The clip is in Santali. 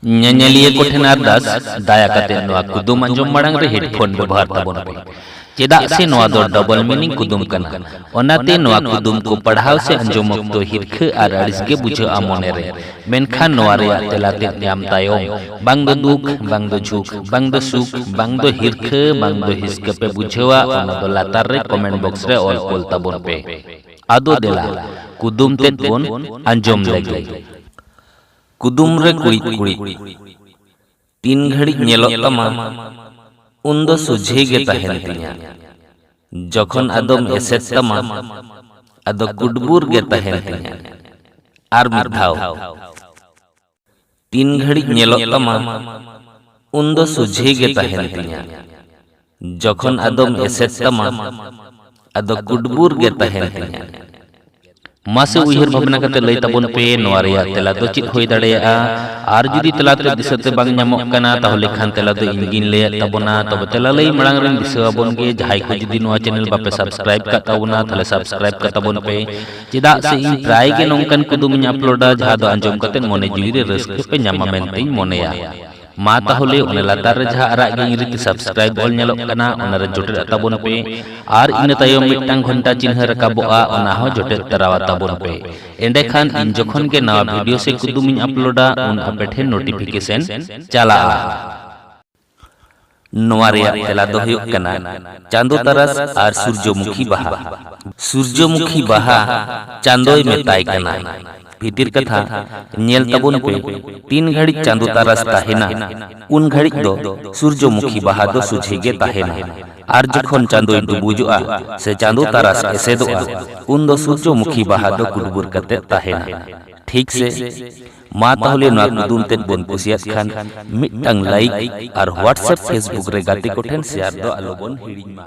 ᱧᱮᱧᱮᱞᱤᱭᱟᱹ ᱠᱚ ᱴᱷᱮᱱ ᱟᱨᱫᱟᱥ ᱫᱟᱭᱟ ᱠᱟᱛᱮ ᱱᱚᱣᱟ ᱠᱩᱫᱩᱢ ᱟᱸᱡᱚᱢ ᱢᱟᱲᱟᱝ ᱨᱮ ᱦᱮᱰᱯᱷᱳᱱ ᱵᱮᱵᱚᱦᱟᱨ ᱛᱟᱵᱚᱱ ᱯᱮ ᱪᱮᱫᱟᱜ ᱥᱮ ᱱᱚᱣᱟ ᱫᱚ ᱰᱚᱵᱚᱞ ᱢᱤᱱᱤᱝ ᱠᱩᱫᱩᱢ ᱠᱟᱱᱟ ᱚᱱᱟᱛᱮ ᱱᱚᱣᱟ ᱠᱩᱫᱩᱢ ᱠᱚ ᱯᱟᱲᱦᱟᱣ ᱥᱮ ᱟᱸᱡᱚᱢ ᱚᱠᱛᱚ ᱦᱤᱨᱠᱷᱟᱹ ᱟᱨ ᱟᱹᱲᱤᱥ ᱜᱮ ᱵᱩᱡᱷᱟᱹᱜᱼᱟ ᱢᱚᱱᱮ ᱨᱮ ᱢᱮᱱᱠᱷᱟᱱ ᱱᱚᱣᱟ ᱨᱮᱭᱟᱜ ᱛᱮᱞᱟ ᱛᱮᱫ ᱧᱟᱢ ᱛᱟᱭᱚᱢ ᱵᱟᱝ ᱫᱚ ᱫᱩᱠ ᱵᱟᱝ ᱫᱚ ᱡᱷᱩᱠ ᱵᱟᱝ ᱫᱚ ᱥᱩᱠ ᱵᱟᱝ ᱫᱚ ᱦᱤᱨᱠᱷᱟᱹ ᱵᱟᱝ ᱫᱚ ᱦᱤᱥᱠᱟᱹ ᱯᱮ ᱵᱩᱡᱷᱟᱹᱣᱟ ᱚᱱᱟ ᱫᱚ ᱞᱟᱛᱟᱨ ᱨᱮ ᱠᱚᱢᱮᱱᱴ ᱵᱚᱠᱥ ᱨᱮ ᱚᱞ ᱠᱚᱞ ᱛᱟᱵᱚᱱ ᱯᱮ ᱟᱫᱚ ᱫᱮᱞᱟ ᱠᱩᱫᱩᱢ ᱛᱮᱫ ᱵᱚᱱ ᱟᱸᱡᱚᱢ ᱞᱮᱜᱮ ᱠᱩᱫᱩᱢ ᱨᱮ ᱠᱩᱲᱤᱫ ᱠᱩᱲᱤᱫ ᱛᱤᱱ ᱜᱷᱟᱹᱲᱤᱡ ᱧᱮᱞᱚᱜ ᱛᱟᱢᱟ ᱩᱱ ᱫᱚ ᱥᱩᱡᱷᱮ ᱜᱮ ᱛᱟᱦᱮᱱ ᱛᱤᱧᱟ ᱡᱚᱠᱷᱚᱱ ᱟᱫᱚᱢ ᱮᱥᱮᱫ ᱛᱟᱢᱟ ᱟᱫᱚ ᱠᱩᱰᱵᱩᱨ ᱜᱮ ᱛᱟᱦᱮᱱ ᱛᱤᱧᱟ ᱟᱨ ᱢᱤᱫ ᱫᱷᱟᱣ ᱛᱤᱱ ᱜᱷᱟᱹᱲᱤᱡ ᱧᱮᱞᱚᱜ ᱛᱟᱢᱟ ᱩᱱ ᱫᱚ ᱥᱩᱡᱷᱮ ᱜᱮ ᱛᱟᱦᱮᱱ ᱛᱤᱧᱟ ᱡᱚᱠᱷᱚᱱ ᱟᱫᱚᱢ ᱮᱥᱮᱫ ᱛᱟᱢᱟ ᱟᱫᱚ ᱠᱩᱰᱵᱩᱨ ᱜᱮ ᱛᱟᱦᱮᱱ ᱛᱤᱧᱟ ᱢᱟᱥᱮ ᱩᱭᱦᱟᱹᱨ ᱵᱷᱟᱵᱽᱱᱟ ᱠᱟᱛᱮ ᱞᱟᱹᱭ ᱛᱟᱵᱚᱱ ᱯᱮ ᱱᱚᱣᱟ ᱨᱮᱭᱟᱜ ᱛᱮᱞᱟ ᱫᱚ ᱪᱮᱫ ᱦᱩᱭ ᱫᱟᱲᱮᱭᱟᱜᱼᱟ ᱟᱨ ᱡᱩᱫᱤ ᱛᱮᱞᱟ ᱛᱮ ᱫᱤᱥᱟᱹ ᱛᱮ ᱵᱟᱝ ᱧᱟᱢᱚᱜ ᱠᱟᱱᱟ ᱛᱟᱦᱚᱞᱮ ᱠᱷᱟᱱ ᱛᱮᱞᱟ ᱫᱚ ᱤᱧ ᱜᱤᱧ ᱞᱟᱹᱭᱟᱫ ᱛᱟᱵᱚᱱᱟ ᱛᱚᱵᱮ ᱛᱮᱞᱟ ᱞᱟᱹᱭ ᱢᱟᱲᱟᱝ ᱨᱮᱧ ᱫᱤᱥᱟᱹ ᱟᱵᱚᱱ ᱜᱮ ᱡᱟᱦᱟᱸᱭ ᱠᱚ ᱡᱩᱫᱤ ᱱᱚᱣᱟ ᱪᱮᱱᱮᱞ ᱵᱟᱯᱮ ᱥᱟᱵᱥᱠᱨᱟᱭᱤᱵ ᱠᱟᱜ ᱛᱟᱵᱚᱱᱟ ᱛᱟᱦᱚᱞᱮ ᱥᱟᱵᱥᱠᱨᱟᱭᱤᱵ ᱠᱟᱜ ᱛᱟᱵᱚᱱ ᱯᱮ ᱪᱮᱫᱟᱜ ᱥᱮ ᱤᱧ ᱯᱨᱟᱭ ᱜᱮ ᱱᱚᱝᱠᱟᱱ ᱠᱩᱫᱩᱢᱤᱧ ᱟᱯᱞᱳᱰᱟ ᱡᱟᱦᱟᱸ ᱫᱚ ᱟᱸᱡᱚᱢ ᱠᱟᱛᱮ ᱢᱚᱱᱮ ᱡᱤᱣᱤ ᱨᱮ ᱨᱟᱹᱥᱠᱟᱹ ᱯᱮ ᱧᱟᱢᱟ ᱢᱮᱱᱛᱮᱧ ᱢᱚᱱᱮᱭᱟ ᱢᱟ ᱛᱟᱦᱚᱞᱮ ᱚᱱᱟ ᱞᱟᱛᱟᱨ ᱨᱮ ᱡᱟᱦᱟᱸ ᱟᱨᱟᱜ ᱜᱮ ᱤᱝᱨᱮᱡᱤ ᱛᱮ ᱥᱟᱵᱥᱠᱨᱟᱭᱤᱵ ᱚᱞ ᱧᱮᱞᱚᱜ ᱠᱟᱱᱟ ᱚᱱᱟ ᱨᱮ ᱡᱚᱴᱮᱫ ᱛᱟᱵᱚᱱ ᱯᱮ ᱟᱨ ᱤᱱᱟᱹ ᱛᱟᱭᱚᱢ ᱢᱤᱫᱴᱟᱝ ᱜᱷᱚᱱᱴᱟ ᱪᱤᱱᱦᱟᱹ ᱨᱟᱠᱟᱵᱚᱜᱼᱟ ᱚᱱᱟ ᱦᱚᱸ ᱡᱚᱴᱮᱫ ᱛᱟᱨᱟᱣᱟ ᱛᱟᱵᱚᱱ ᱯᱮ ᱮᱸᱰᱮᱠᱷᱟᱱ ᱤᱧ ᱡᱚᱠᱷᱚᱱ ᱜᱮ ᱱᱟᱣᱟ ᱵᱷᱤᱰᱤᱭᱳ ᱥᱮ ᱠᱩᱫᱩᱢᱤᱧ ᱟᱯᱞᱳᱰᱟ ᱩᱱ ᱟᱯᱮ ᱴᱷᱮᱱ ᱱᱳᱴᱤᱯᱷᱤᱠᱮᱥᱚᱱ ᱪᱟᱞᱟᱜᱼᱟ ᱱᱚᱣᱟ ᱨᱮᱭᱟᱜ ᱛᱮᱞᱟ ᱫᱚ ᱦᱩᱭᱩᱜ ᱠᱟᱱᱟ ᱪᱟᱸᱫᱚ ᱛᱟᱨᱟᱥ ᱟᱨ ᱥᱩᱨᱡᱚᱢᱩᱠᱷᱤ ᱵᱟᱦᱟ᱾ ᱥᱩᱨᱡᱚᱢᱩᱠᱷᱤ ᱵᱟᱦᱟ ᱪᱟᱸᱫᱚᱭ ᱢᱮᱛᱟᱭ ᱠᱟᱱᱟ᱾ ᱵᱷᱤᱛᱤᱨ ᱠᱟᱛᱷᱟ ᱧᱮᱞ ᱛᱟᱵᱚᱱ ᱯᱮ ᱛᱤᱱ ᱜᱷᱟᱹᱲᱤᱡ ᱪᱟᱸᱫᱚ ᱛᱟᱨᱟᱥ ᱛᱟᱦᱮᱸᱱᱟ ᱩᱱ ᱜᱷᱟᱹᱲᱤᱡ ᱫᱚ ᱥᱩᱨᱡᱚᱢᱩᱠᱷᱤ ᱵᱟᱦᱟ ᱫᱚ ᱥᱚᱡᱷᱮ ᱜᱮ ᱛᱟᱦᱮᱸᱱᱟ ᱟᱨ ᱡᱚᱠᱷᱚᱱ ᱪᱟᱸᱫᱚᱭ ᱰᱩᱵᱩᱡᱚᱜᱼᱟ ᱥᱮ ᱪᱟᱸᱫᱚ ᱛᱟᱨᱟᱥ ᱮᱥᱮᱫᱚᱜᱼᱟ ᱩᱱ ᱫᱚ ᱥᱩᱨᱡᱚᱢᱩᱠᱷᱤ ᱵᱟᱦᱟ ᱫᱚ ᱠᱩᱰᱵᱩᱨ ᱠᱟᱛᱮ ᱛᱟᱦᱮᱸᱱᱟ᱾ ᱴᱷᱤᱠ ᱥᱮ? ᱢᱟ ᱛᱟᱦᱚᱞᱮ ᱱᱚᱣᱟ ᱠᱩᱫᱩᱢ ᱛᱮᱫ ᱵᱚᱱ ᱠᱩᱥᱤᱭᱟᱫ ᱠᱷᱟᱱ ᱢᱤᱫᱴᱟᱝ ᱞᱟᱭᱤᱠ ᱟᱨ ᱦᱳᱣᱟᱴᱥᱮᱯ ᱯᱷᱮᱥᱵᱩᱠ ᱨᱮ ᱜᱟᱛᱮ ᱠᱚᱴᱷᱮᱱ ᱥᱮᱭᱟᱨ ᱫᱚ ᱟᱞᱚ ᱵᱚᱱ ᱦᱤᱲᱤᱧ ᱢᱟ